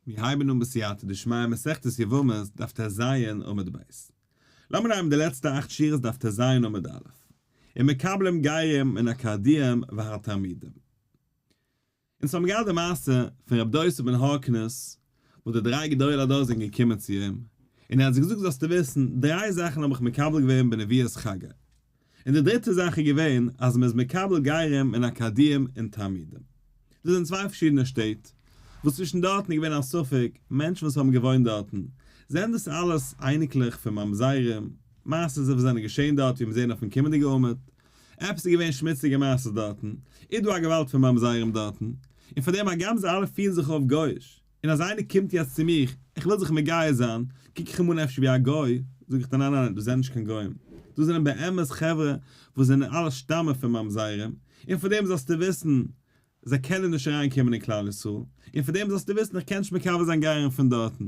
מיר הייבן אן בסייעתא דשמיא מסכת יבמות דף ט ז עמוד ב'. לאמיר הייבן די לעצטע אכט שורות דף ט ז עמוד א'. און מקבלים גרים מן הכרדיים והתרמידים. אונז האבן געהאט די מעשה פון רבי דוסא בן הורקנוס וואס די דריי גדולי הדור זענען געקומען צו אים, און ער האט זיי געזאגט זאלסטו וויסן, דריי זאכן האב איך מקבל געווען בנביאת חגי, און די דריטע זאך איז געווען אז מ'איז מקבל גרים און אקאדיעם און תלמידים. דאס זענען צוויי פארשידענע שטעט, וואס צווישן דארטן איז געווען א ספק, מענטשן וואס האבן געוואוינט דארטן, זענען דאס אלעס אייניקלעך פון ממזרים, מעשה'ס וואס זענען געשען דארט ווי מיר זעען אויפן קומענדיגע עמוד, עפעס איז געווען שמוציגע מעשה'ס דארטן, איז דא א געוואלד פון ממזרים דארטן, און פארדעם הגם זיי אלע פירן זיך אויף גוי'איש, און אז איינער קומט יעצט צו מיך, איך וויל זיך מגייר זיין, קוק איך אים אן אפשר ווי א גוי, זאג איך דיר ניין ניין ניין, דאס זענען נישט קיין גוים, דאס זענען באמת חברה וואס זענען אלע שטאמען פון ממזרים, און פאר דעם זאלסטו וויסן, זיי קענען נישט אריין קומען אין כלל ישראל, און פאר דעם זאלסטו וויסן איך קען נישט מקבל זיין גייערן פון דארטן.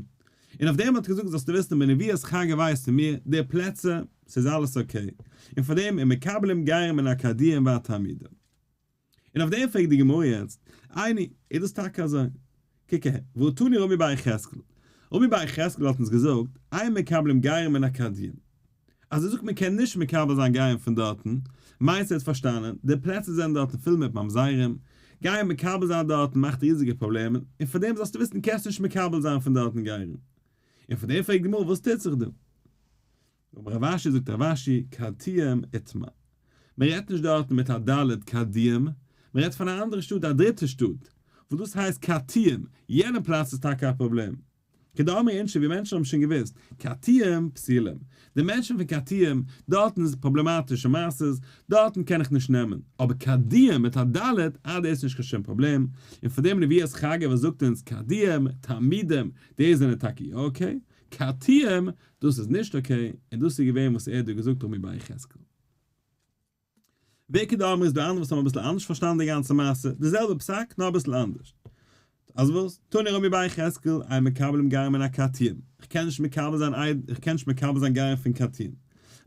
און אויף דעם האט ער געזאגט זאלסטו וויסן בנביאות חגי ווייס פון מיר די פלעצער, ס'איז אלעס אקעי, און פאר דעם און מקבלים גייערים אין אקאדיע און וועד תלמידים. און אויף דעם פרעגט די גמרא יעצט, עיני, איז דאס טאקע אזוי? קוק אהער, והא תני רמי בר יחזקאל, רמי בר יחזקאל האט אונז געזאגט, אין מקבלים גרים מן הכדין, אז ער זאגט מען קען נישט מקבל זיין גרים פון דארטן, מיינט ער האט פארשטאנען, די פלעצער זענען דארטן פול מיט ממזרים, גייען מקבל זיין דארטן מאכט ריזיגע פראבלעמען, און פאר דעם זאלסטו וויסן קענסט נישט מקבל זיין פון דארטן גרים. און פון דעם פרעגט די גמרא וואס טוט זיך דא? אבער רב אשי זאגט רב אשי קרתיהם איתמר. מען רעדט נישט דארטן מיט א דלת קרדיהם, מען רעדט פון א אנדערע שטאט א דריטע שטאט, וואס דאס הייסט קרתיהם, יענע פלאץ איז טאקע א פראבלעם. כדאמרי אינשי ווי מענטשן האבן שוין געוואוסט, קרתיהם פסילים, די מענטשן פון קרתיהם, דארטן איז פראבלעמאטישע מעשות, דארטן קען איך נישט נעמען, אבער קרדיהם מיט א דלת, אה דאס איז נישט קיין שום פראבלעם, און פאר דעם נביא'ס חגא וואס זאגט אונז קרדיהם, תעמידם, די זענען טאקע יא אקעי, כתיהם, דאס איז נישט אקעי, און דאס איז געווען וואס ער האט דא געזאגט אויבן ביי יחזקאל. וכד' אמר איז דא אנדערע וואס האבן אביסל אנדערש פארשטאנען די גאנצע מעשה, די זעלבע פסק נאר אביסל אנדערש. אז וואס? תני רבי ביי יחזקאל, איי מקבלים גרים מן הכתיהם, איך קען נישט מקבל זיין איך קען נישט מקבל זיין גרים פון כתיהם.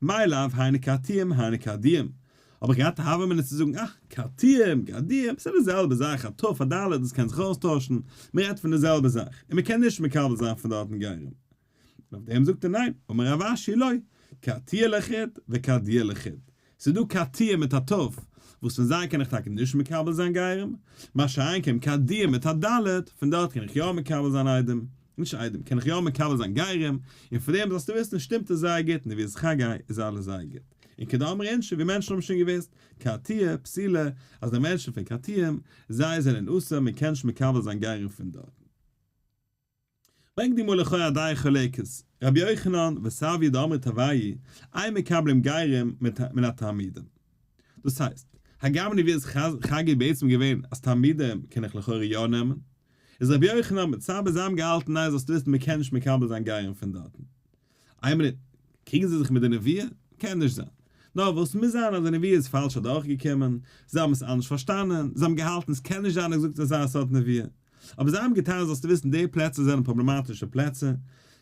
מאי לאו היינו כתיהם היינו כדיהם, האב איך געהאט הוה אמינא צו זאגן אה, קרתיים, גרדיים, ס'איז די זעלבע זאך, א ת' פאר ד', דאס קען זיך אויסטוישן, מען רעדט פון די זעלבע זאך, און מען קען נישט מקבל זיין פון דארטן גרים. און אויף דעם זאגט ער ניין, אמר רב אשי לא, קרתיה לחוד וקרדיה לחוד. ס'איז דא קרתיים מיט א ת', וואס פון זיי קען איך טאקע נישט מקבל זיין גרים, מה שאין כן קרדיים מיט א ד', פון דארט קען איך יא מקבל זיין איידעם, נישט איידעם, קען איך יא מקבל זיין גרים, און פון דעם זאלסטו וויסן שטימט עס זייער גוט, און ווי עס איז חגי איז אלעס זייער גוט. און כדאמר אינשי ווי מענטשן האבן שוין געוויסט, קרתיה, פסילה, אז די מענטשן פון קרתיים, זיי זענען אסור מען קען נישט מקבל זיין גרים פון דארטן. ברענגט די גמרא לכאו' א דיין חולקת, רבי יוחנן וסבי' דאמרי טבעי, אין מקבלים גרים מן התעמידים. דאס הייסט, הגם אין ווי איז חגי בעצם געווען אז תעמידים קען איך לכאו' יא נעמען, איז רבי יוחנן מיט סבי' זיי האבן געהאלטן ניין זאלסטו וויסן מען קען נישט מקבל זיין גרים פון דארטן. איין מינוט, קריגן זיי זיך מיט די נביא? קען נישט זיין. נאר וואס מוז זיין אז די נביא איז פאלש אדורכגעקומען, זיי האבן עס אנדערש פארשטאנען, זיי האבן געהאלטן עס קען נישט זיין אז געזאגט אזא סארט נביא. אבער זיי האבן געטאן זאלסטו וויסן די פלעצער זענען פראבלעמאטישע פלעצער,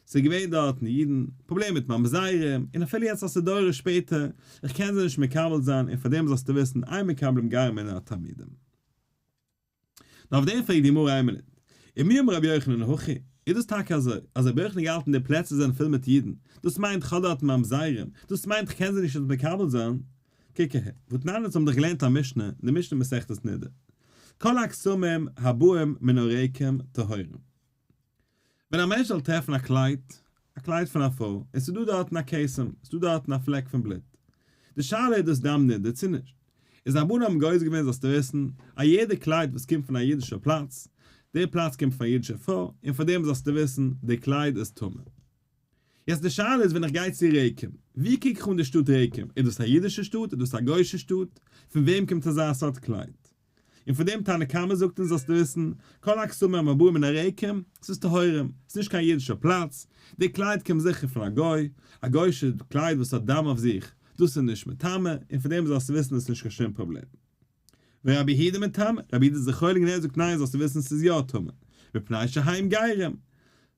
ס'איז געווען דארטן אידן, פראבלעם מיט ממזרים, און אפילו יעצט אז ס'איז דורות שפעטער, איך קען זיי נישט מקבל זיין, און פארדעם זאלסטו וויסן, איין מקבלים גרים אינן התלמידים. נאר אויף דעם פרעגט די גמרא איין מינוט, ומי אמר רבי יוחנן הכי, איז דאס טאקע אזוי אז רבי יוחנן האט געהאלטן די פלעצער זענען פול מיט אידן, דאס מיינט חדרתם ממזרים, דאס מיינט כ'קען זיי נישט אונז מקבל זיין, קוק אהער, ותנן אונז האבן דאך געלערנט א משנה, די משנה אין מסכת נדה, כל הקסמים הבאים מן הריקים טהורים. ווען א מענטש זאל טרעפן א קלייד, א קלייד פון א פרוי, און ס'איז דא דארטן א כרסום, ס'איז דא דארטן א פלעק פון בלוט. די שאלה איז דאס דם נדה צו נישט. איז רבנו האבן גורס געווען זאלסטו וויסן, א יעדע קלייד וואס קומט פון א אידישער פלאץ, די פלאץ קומט פון א אידישער פרוי, און פאר דעם זאלסטו וויסן, די קלייד איז טמא. יעצט די שאלה איז ווען איך גיי צו רעקים, ווי קוק איך אן די שטאט רעקים, איז דאס א אידישע שטאט, איז דאס א גוישע שטאט, פון וועם קומט אזא סארט קלייד? און פון דעם תנא קמא זאגט אונז זאלסטו וויסן, כל הקסומים המבואים מן הריקים, ס'איז טהורים, ס'איז נישט קיין אידישער פלאץ, די קלייד קומט זיכער פון א גוי, א גוי'שע קלייד וואס האט דם אויף זיך, דאס איז נישט מטמא, און פון דעם זאלסטו וויסן עס איז נישט קיין שום פראבלעם. ורבי הידא מטמא, רבי הידא איז זיך חולק און ער זאגט ניין זאלסטו וויסן עס איז יא טמא, מפני שהאיים גיירים,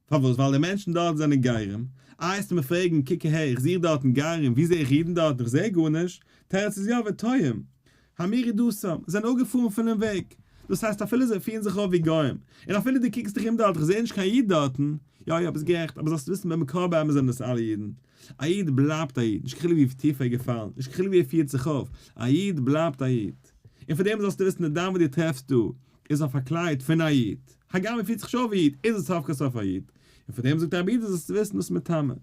פארוואס? ווייל די מענטשן דארט זענען גרים. איי העסטו מיר פרעגן, קוק אהער, איך זוך דארטן גרים, ווי זע איך אידן דארטן? איך זע גארנישט. תירוץ איז יא ותוהם. המירי דוסם, זענען אפגעפארן פונעם וועג. דאס הייסט אפילו זיי פירן זיך אויף ווי גוים. און אפילו דו קוקסט דיך אום דארט, איך זע נישט קיין איד דארטן. יא יא, ביסט גערעכט, אבער זאלסט וויסן במקור באמת זענען דאס אלע אידן. א איד בלייבט א איד, נישט קיין חילוק ווי טיף ער איז געפאלן, נישט קיין חילוק ווי ער פירט זיך אויף, א איד בלייבט א איד. און פון דעם זאלסטו וויסן די דם וואס דו טרעפסט דא, איז אויף א קלייד פון א איד, הגם ער פירט זיך נישט אויף ווי איד, איז עס סוף כל סוף א איד. און פון דעם זאגט דער אבידה זאלסטו וויסן דאס מטעמים.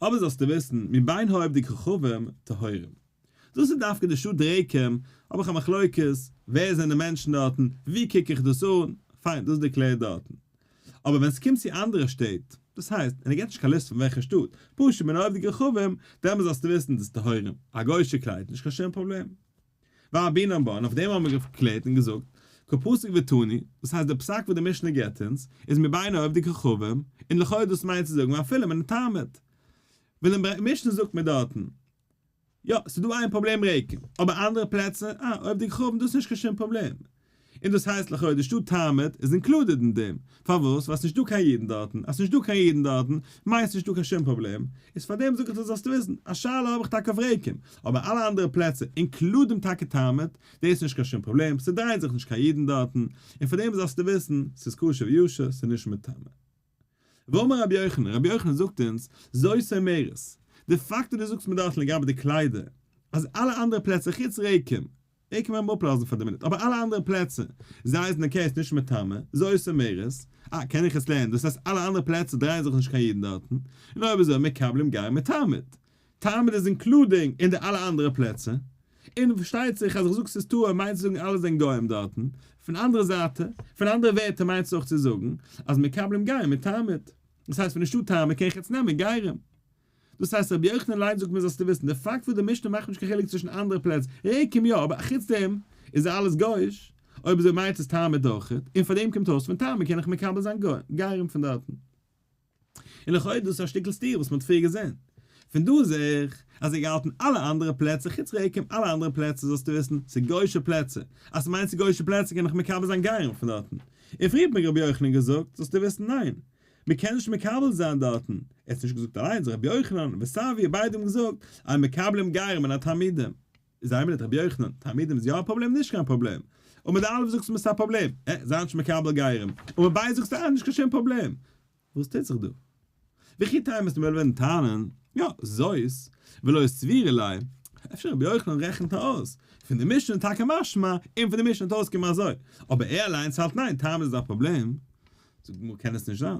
אבער זאלסטו וויסן מבין האובדג כוכבים טהורים. דאס איז דווקא די שו ת רעקים, האב איך א מחלוקת, ווער זענען די מענטשן דארטן, ווי קוק איך דאס אן, פיין, דאס איז דערקלערט דארטן. אבער ווען עס קומט צו אנדערע שטעט, דאס הייסט, און ער געבט נישט קיין ליסט פון וועלכע שטאט, פשוט בין האובדג כוכבים, דעמאלס זאלסטו וויסן דאס איז טהורים, א גוי'שע קלייד, נישט קיין שום פראבלעם. ואבי נאמבא, און אויף דעם האבן מיר געקלערט און געזאגט, כפסק ותני, דאס הייסט דער פסק וואס די משנה געבט אונז, איז מבין אוהב די כוכבים, און לכאורה דאס מיינט צו זאגן ואפילו מן התענית. וויל אין משנה זאגט מען דארטן, יא, ס'איז דא איין פראבלעם רעיקן, אבער אנדערע פלעצער, אה, אוהב די כוכבים דאס איז נישט קיין שום פראבלעם. און דאס הייסט לכאו' די שטאט תעמוד איז אינקלודעד אין דעם, פארוואס? ווייל עס איז נישט דא קיין אידן דארטן, אז עס איז נישט דא קיין אידן דארטן מיינסט נישט דא קיין שום פראבלעם, איז פארדעם זאג איך דיר זאלסט וויסן, א שאלה האב איך טאקע אויף רעיקים, אבער אלע אנדערע פלעצער אינקלודינג טאקע תעמוד, דאס איז נישט קיין שום פראבלעם, ס'דרייען זיך נישט קיין אידן דארטן, און פארדעם זאלסטו וויסן, ס'איז קשה וישר, ס'איז נישט מטמא. ואמר רבי יוחנן, רבי יוחנן זאגט אונז, זוי סאומרת, די פאקט וואס דו זאגסט מען דארף לגבי די קליידער, אז אלע אנדערע פלעצער חוץ רעקים, רעקים וועל מען אפלאזן פאר די מינוט, אבער אלע אנדערע פלעצער, זיי אייזן אקעי עס נישט מטמא, זוי סאומרת, אה קען איך עס לערנען, דאס הייסט אלע אנדערע פלעצער דרייען זיך נישט קיין אידן דארטן, און אויב אזוי מקבלים גאר מיט תמיד. תמיד איז אינקלודינג אין די אלע אנדערע פלעצער, און פארשטייט זיך אז איך זאג ס'איז טהור מיינט צו זאגן אלע זענען גוים דארטן, פון אנדערע זייטע, פון אנדערע ווערטער מיינסט אויך צו זאגן אז מקבלים גרים מיט תמיד, דאס הייסט ווען נישטא תמיד קען איך יעצט נעמען גרים. דאס הייסט רבי יוחנן לייב זאגט מיר זאלסטו וויסן די פאקט וואס די משנה מאכט נישט קיין חילוק צווישן אנדערע פלעצ ריקים יא אבער אחוץ דעם איז אלעס גוי'איש, אויב אזוי מיינט עס תמיד אויכעט, און פאר דעם קומט אויס פון תמיד קען איך מקבל זיין גרים פון דארטן. און לכאו' איז דאס א שטיקל סתירה וואס מען האט פריער געזען. פון דא זעה איך אז ער האט געהאלטן אלע אנדערע פלעצער חוץ רעיקים אלע אנדערע פלעצער זאלסטו וויסן ס'איז גוישע פלעצער אז ס'מיינט ס'איז גוישע פלעצער קען איך מקבל זיין גייען פון דארטן און פריער האט מיר רבי יוחנן געזאגט זאלסטו וויסן ניין מ'קען נישט מקבל זיין דארטן ער האט עס נישט געזאגט אליינס רבי יוחנן וסבי' ביידע האבן געזאגט אז מקבלים גרים און א תלמידים. איז איימער ניט רבי יוחנן, תלמידים איז יא א פראבלעם נישט קיין פראבלעם. און מיט די אלף זאגסט מען ס'איז א פראבלעם. ע, זיי נישט מקבל גרים. און מיט ביידע זאגסטו א, נישט קיין שום פראבלעם. וואס טוט זיך דא? וויכי תימא איז ממילא וועלן טענה'ן, יא, זאת, ולא איז סבירה ליה. אפשר רבי יוחנן רעכנט אויס, פון די משנה איז טאקע משמע, און פון די משנה וועט אויסקומען אזוי. אבער ער אליינס האלט ניין, תמיד איז א פראבלעם. זאגט די גמרא קען עס נישט זיין.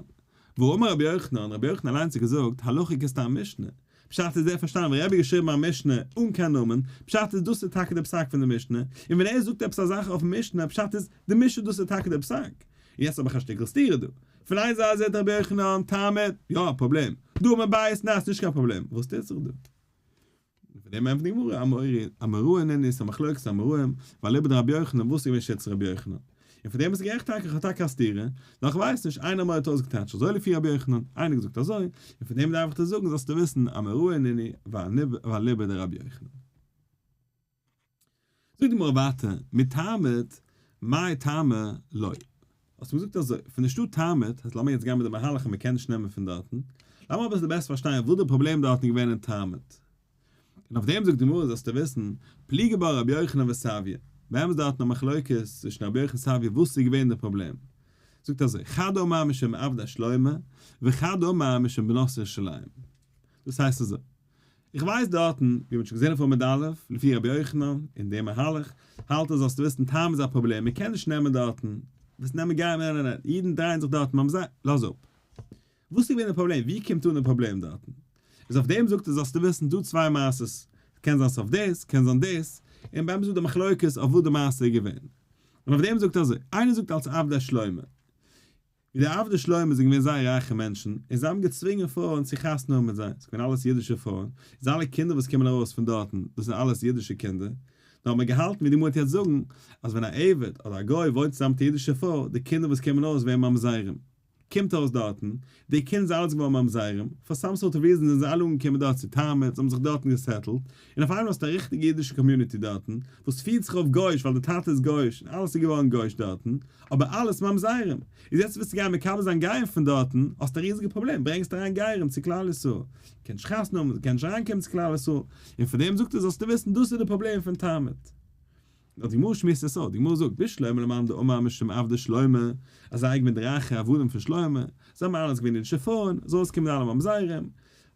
ואמר רבי יוחנן, רבי יוחנן אליינס האט געזאגט, הלכה כסתם משנה. פשט איז דער פארשטאנען ווען רבי האט געשריבן א משנה אן קיין נאמען, פשט איז דאס איז טאקע דער פסק פון דער משנה, און ווען ער זאגט עפעס א זאך אויפן משנה, פשט איז די משנה דאס איז טאקע דער פסק. און יעצט האב איך א שטיקל סתירה דא. פון איין זייט זעט רבי יוחנן, תעמוד, יא א פראבלעם, דא מבית נס נישט קיין פראבלעם, וואס טוט זיך דא? און פון דעם ענטפערט די גמרא, אמורי אמרוה נ ניסא מחלוקת אמוראים, ווייל לויט רבי יוחנן וואס איז געווען שטות רבי יוחנן? און פון דעם וואס גערעכט טאקע איך האב טאקע א סתירה נאר איך ווייס נישט איינער מויט אויס געטייטש אזוי לפי רבי יוחנן איינער געזאגט אזוי און פון דעם דארף איך דיר זאגן זאלסטו וויסן א מראה עניני ואליבא דרבי יוחנן זאגט די גמרא ווייטער מתעמת מאי טעמא לוי האסט מיר געזאגט אזוי פון די שטאט תעמת אז לאמיר יעצט גיין מיט די מהלך אז מ'קען נישט נעמען פון דארטן לאמיר אביסל בעסער פארשטיין וואס די פראבלעם דארטן איז געווען אין תעמת און אויף דעם זאגט די גמרא זאלסטו וויסן, פליגי בה רבי יוחנן וסביון, באמת איז דארטן א מחלוקת צווישן רבי יוחנן און סביון וואס איז געווען די פראבלעם, זאגט אזוי, חד אמר משום עבדא שלמה, וחד אמר משום בנות ירושלים. דאס הייסט אזוי, איך ווייס דארטן, ווי מען האט שוין געזען אויף עמוד א', לפי רבי יוחנן, און די מהלך, האלט ער זאלסטו וויסן טעם איז א פראבלעם, מען קען נישט נעמען דארטן, וועסט נעמען גייען נענענענענ, אידן דרייען זיך דארטן ממז ל, לאז אפ. וואס איז געווען די פראבלעם? ווי קומט אן די פראבלעם דארטן? איז אויף דעם זאגט ער זאלסטו וויסן דא צוויי מעשות, קען זיין ס'אויף דאס, קען זיין דאס, און באמת איז דא מחלוקת אויף וואס די מעשה איז געווען. און אויף דעם זאגט ער אזוי, איינער זאגט אלס עבדי שלמה, ווי די עבדי שלמה זענען געווען זייער רייכע מענטשן, און זיי האבן געצווינגען פרויען צו חתונה האבן מיט זיי, ס'איז געווען אלעס אידישע פרויען, איז אלע קינדער וואס קומען ארויס פון דארטן, דאס זענען אלעס אידישע קינדער, נו האט מען געהאלטן ווי די מועט יעצט זאגן, אז ווען א עבד אדער א גוי וואוינט צוזאם מיט א אידישע פרוי, די קינדער וואס קומען אויס ווערן ממזרים. קומט אויס דארטן, די קינד זענען אלע געווארן ממזרים, פאר סאם סארט אוו ריזען זענען זיי אלע אנגעקומען דארט צו תרמב, זיי האבן זיך דארטן געסעטלט, און אויף איינמאל האסטו א ריכטיגע אידישע קאמיוניטי דארטן, וואס פירט זיך אויף גוי'איש ווייל די טאטע איז גוי'איש און אלעס איז געווארן גוי'איש דארטן, אבער אלעס ממזרים. איז יעצט ווילסטו גיין מקבל זיין גרים פון דארטן, האסט א ריזיגע פראבלעם, ברענגסט אריין גרים צו כלל ישראל, זיי קענען נישט חתונה האבן, זיי קענען נישט אריינקומען צו כלל ישראל, און פון דעם זאגט ער זאלסטו וויסן דאס איז די פראבלעם פון תרמב. נאר די גמרא שמועסט עס אויס, די גמרא זאגט, בשלמה למאן דאמר משום עבדי שלמה, אז זיי געווען די רייכע עבדים פון שלמה, זיי האבן אלעס געווען אידישע פרויען, זאל עס קומען אלע ממזרים,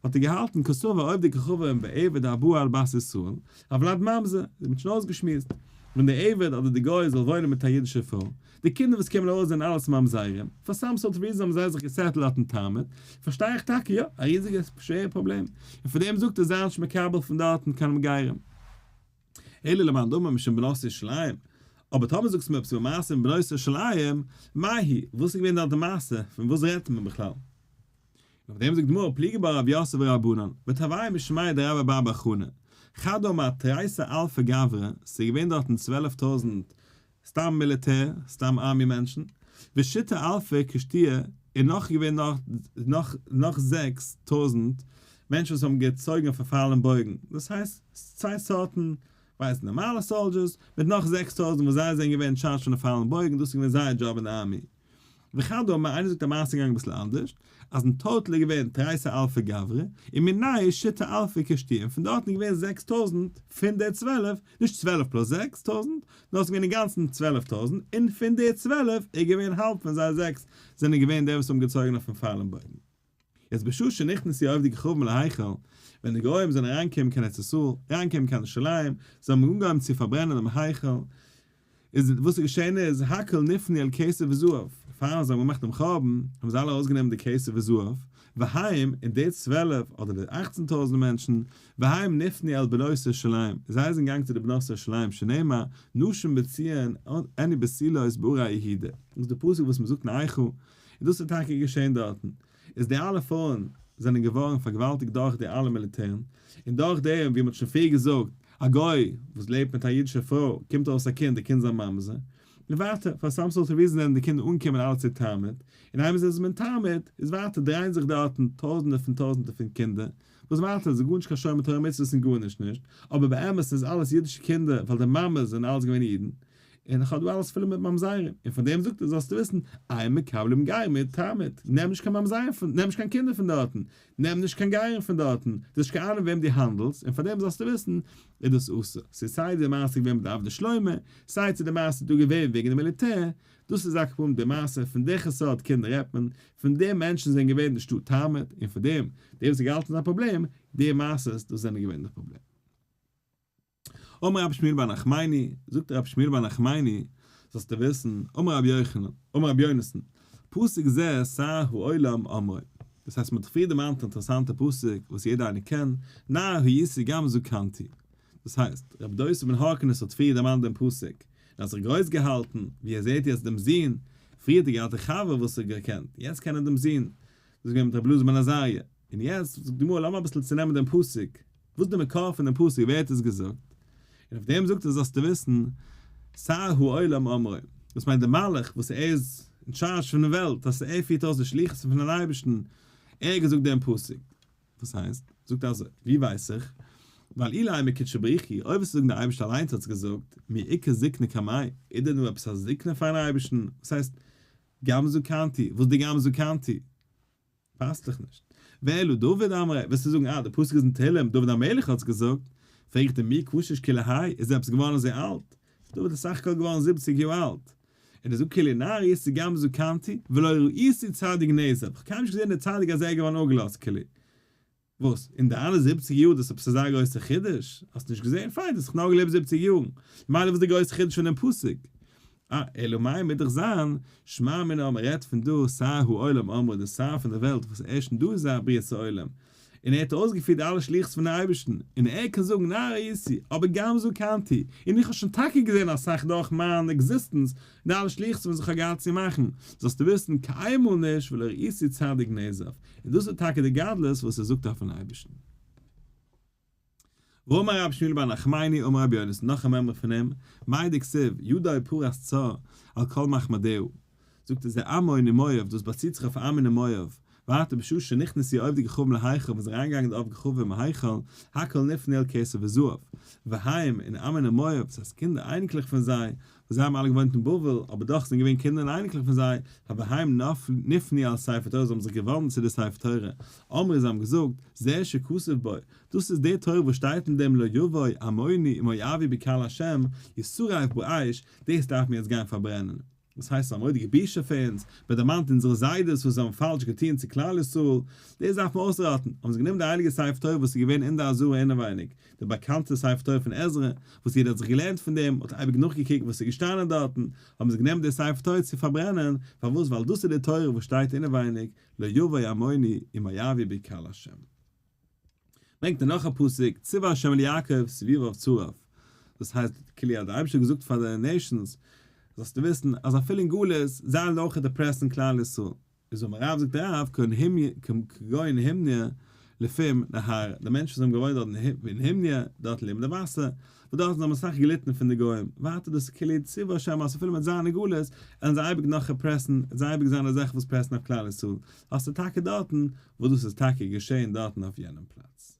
האט ער געהאלטן כסא ועובדי כוכבים און בעבד הבא על בת ישראל, א וולד ממזר, זיי האבן שוין אויסגעשמועסט, ווען דער עבד אדער דער גוי זאל וואוינען מיט א אידישע פרוי, די קינדער וואס קומען ארויס זענען אלעס ממזרים, פאר סאם סארט ריזען האבן זיי זיך געסעטלט אויפן תענית, פארשטיי איך טאקע יא, א ריזיגע שווערע פראבלעם, און פאר דעם זאגט ער זיי נישט מקבל פון דארטן קיין מגירים. אלא למאן דאמר משום בנות ירושלים, אבער טאמער זאגסטו מיר עפעס איבער מעשה פון בנות ירושלים, מאי היא, וואס איז געווען דארט די מעשה, פון וואס רעדט מען בכלל? און אויף דעם זאגט די גמרא, פליגי בה רב יוסף ורבנן, ותבעי משמיה דרב אבא בר חנה, חדא מאתרייסא אלפא גברא, ס'איז געווען דארטן צוועלף טויזנט סתם מיליטער, סתם ארמי מענטשן, ושיטה אלפי קשתיה און נאך געווען נאך נאך זעקס טויזענט מענטשן וואס האבן געצויגן אויף א פאלן בויגן, דאס הייסט צוויי סארטן ווייסט נארמאלע סאלדזשערס מיט נאך זעקס טויזענט וואס זיי זענען געווען אין טשארדזש פון די פאלן בויגן, דאס איז געווען זייער דזשאב אין די ארמי. וכדו' אמר איינער זאגט א מעשה געגאנגען אביסל אנדערש אז אין טאוטעל איז געווען תרייסע אלפי גברי און מנאי שיטה אלפי קשתים פון דארטן איז געווען זעקס טויזנט פון די צוועלף נישט צוועלף פלאס זעקס טויזנט נאר עס איז געווען אינגאנצן צוועלף טויזנט און פון די צוועלף איז געווען האלב פון זיי זעקס זענען געווען די וואס האבן געצויגן אויפן פאלן בויגן יעצט בשעה שנכנס די אויפדיגע חורבן להיכל, ווען די גויים זענען אריינגעקומען קיין ארץ ישראל, אריינגעקומען קיין ירושלים, זיי האבן אנגעהויבן צו פארברענען דעם היכל, איז וואס איז געשען איז, הכל נפנה אל כסף וזהב, פארן זיי האבן געמאכט דעם חורבן, האבן זיי אלע ארויסגענומען די כסף וזהב, והיום, און די צוועלף, אדער די אכצן טויזנט מענטשן, והיום נפנה אל בנות ירושלים, זיי זענען געגאנגען צו די בנות ירושלים, שנאמר, נשים בציון, עני בסילות בארה יהודה, דאס איז די פסוק וואס מען זאגט אין היכל, און דאס איז טאקע געשען דארטן, איז די אלע פרויען זענען געווארן פארגוואלטיגט דורך די אלע מיליטערן, און דורך דעם ווי מען האט שוין פריער געזאגט, א גוי וואס לעבט מיט א אידישע פרוי קומט ארויס א קינד, די קינד איז א ממזר, און ווייטער, פאר סאם סארט אוו ריזען זענען די קינדער אנגעקומען אלע צו תרמד, און איינמאל זיי זענען תרמד, איז ווייטער דרייען זיך דארטן טויזענטער פון טויזענטער פון קינדער, וואס ווייטער איז גארנישט קיין שומר תורה מצוות און גארנישט נישט, אבער באמת איז אלעס אידישע קינדער ווייל די מאמעס זענען אלעס געווען אידן, און איך האב דא אלעס פול מיט ממזרים, און פון דעם זאגט ער זאלסטו וויסן, איי מקבלים גר מיט תרמית, נעם נישט קיין ממזרים פון, נעם נישט קיין קינדער פון דארטן, נעם נישט קיין גרים פון דארטן, דו האסט נישט קיין אהנונג וועם דו האנדלסט, און פון דעם זאלסטו וויסן, איז דאס אסור. ס'איז סיי די מעשה געווען מיט די עבדי שלמה, סיי צו די מעשה איז דא געווען וועגן די מיליטער, דאס איז אקעפ אן די מעשה, פון וועכע סארט קינדער רעדט מען, פון די מענטשן זענען געווען אין די שטאט תרמית, און פון דעם, די וואס האט געהאלטן ס'איז א פראבלעם, די מעשות, דאס זענען געווען די פראבלעם. אמר רבי שמואל בר נחמני, זאגט רבי שמואל בר נחמני, זאלסטו וויסן, אמר רבי יוחנן, אמר רבי יונתן, פסוק זה עשה העולם אמרו, דאס הייסט מען האט פריער דערמאנט א אינטערעסאנטע פסוק וואס יעדער איינער קען, נער הייתי גם זקנתי, דאס הייסט, רבי דוסא בן הורקנוס האט פריער דערמאנט דעם פסוק, און האט זיך גרויס געהאלטן, ווי ער זעט יעצט דעם זון, פריער האט ער געהאט א חבר וואס ער האט געקענט, יעצט קען ער דעם זון, דאס איז געווען מיט רבי אלעזר בן עזריה, און יעצט זאגט די גמרא, לאמיר אביסל צונעמען דעם פסוק, וואס איז די מקור פון דעם פסוק? ווער האט עס געזאגט? און אויף דעם זאגט ער זאלסטו וויסן, סר העולם אמרו, דאס מיינט דער מלאך וואס ער איז אין טשארזש פון די וועלט, אז ער פירט אויס די שליחות פון דעם אייבערשטן, ער האט געזאגט דעם פסוק. וואס הייסט? זאגט ער אזוי, ווי ווייס איך? ווייל אילאי מקודשא בריך הוא, אויב וועסטו זאגן דער אייבערשטער אליינס האט עס געזאגט, מי עיקר זקנה כמי, איז דען דא עפעס א זקנה פאר'ן אייבערשטן? וואס הייסט גמזו קנתי? וואס איז די גמזו קנתי? פאסט דאך נישט. ואילו דוד אמר ע, וועסטו זאגן אה, די פסוק איז אין תהלים, דוד המלך האט עס געזאגט, פרעג איך דיר מי קשש כי לה', איז דער עפעס געווארן אזוי אלט? דוד איז סך הכל געווארן זיבעציג יאר אלט. און ער זאגט כי לנער איסתי גם זקנתי, ולא ראיתי צדיק נעזב, כ'האב קיינמאל נישט געזען דער צדיק אז ער איז געווארן אפגעלאזט כו'. וואס? אין די אלע זיבציג יאר דאס עפעס אזא גרויסע חידוש? האסט נישט געזען? פיין, דו האסט דאך נאר געלעבט זיבציג יאר. ממילא וואס איז די גרויסע חידוש פון דעם פסוק? אה, אלא מאי מוז דאך זיין, שמע מינה מען רעדט פון דא שר העולם אמרו דער שר פון דער וועלט וואס הערשט אין דא איז א בריאת העולם, און ער האט אויסגעפירט אלע שליחות פונעם אייבערשטן, און ער קען זאגן נער הייתי, אבער גם זקנתי, און איך האב שוין טאקע געזען אסאך דורך מיין עקזיסטענס, די אלע שליחות'ן וואס איך האב געהאט צו מאכן, זאלסטו וויסן, קיינמאל נישט ולא ראיתי צדיק נעזב, און דאס איז טאקע די גדלות וואס ער זאגט אויפן אייבערשטן. ואמר רבי שמואל בר נחמני אמר רבי יונתן, נאך א מימרא פון אים, מאי דכסיב, ידו פרס צו על כל מחמדהו, זאגט ער זע עמון און מואב, דאס באציט זיך אויף עמון און מואב, ואתו בשעה שנכנסו יהודי גחובים להיכל ווען ס'איז אריינגעגאנגען די עובדי גחובים אין היכל, הכל נפנה אל כסף וזהב, והיום, און עמון און מואב, דאס הייסט קינדער אייניקלעך פון זיי, זיי האבן אלע געוואוינט אין בבל, אבער דאך זענען געווען קינדער און אייניקלעך פון זיי, הוויהם נפני על ספר תורה, זיי האבן זיך געוואנדן צו די ספר תורה, אמרו זיי האבן געזאגט, זה שכתוב בו, דאס איז די תורה וואס שטייט אין דעם לא יבוא עמוני מואבי בקהל השם, ישרף אויף באש, דאס דארף מען יעצט גיין פארברענען. וואס הייסט ס'איז א מורא'דיגע בושה פאר אונז, מען דערמאנט אונזערע זיידעס וואס זיי האבן פאלש געטון צו כלל ישראל, דאס דארף מען אויסראטן, האבן זיי גענומען די הייליגע ספר תורה וואס איז געווען אין די אזהרה אינעווייניג, די באקאנטע ספר תורה פון עזרא, וואס יעדער האט זיך געלערנט פון דעם, האט אייביג נאכגעקוקט וואס איז געשטאנען דארטן, האבן זיי גענומען די ספר תורה צו פארברענען, פארוואס ווייל דאס איז די תורה וואס שטייט אינעווייניג, לא יבא עמוני אם מה יביא בי קהל השם. ברענגט ער נאך א פסוק, ציווה השם אל יעקב סביביו צרף, דאס הייסט כאילו האט דער אייבישטער געזאגט פאר די נעישאנס, זאלסטו וויסן אז אפילו אין גלות זיי העלן אויך דיפרעסן כלל ישראל, איז האבן הרב זאגט הרב כגון הימניא לפעם נהר, די מענטשן וואס האבן געוואוינט דארט אין הימניא, דארט לעבן די וואסער, וואס דארטן זיי האבן אסאך געליטן פון די גוים, ווייטער דאס איז כלי צבא שם אז אפילו מיט זיינע גלות וועלן זיי אייביג נאך אפרעסן, עס וועט אייביג זיין אזעלכע וואס פרעסן אויף כלל ישראל, האסט עס טאקע דארטן, וואס דאס איז טאקע געשען דארטן אויף יענעם פלאץ.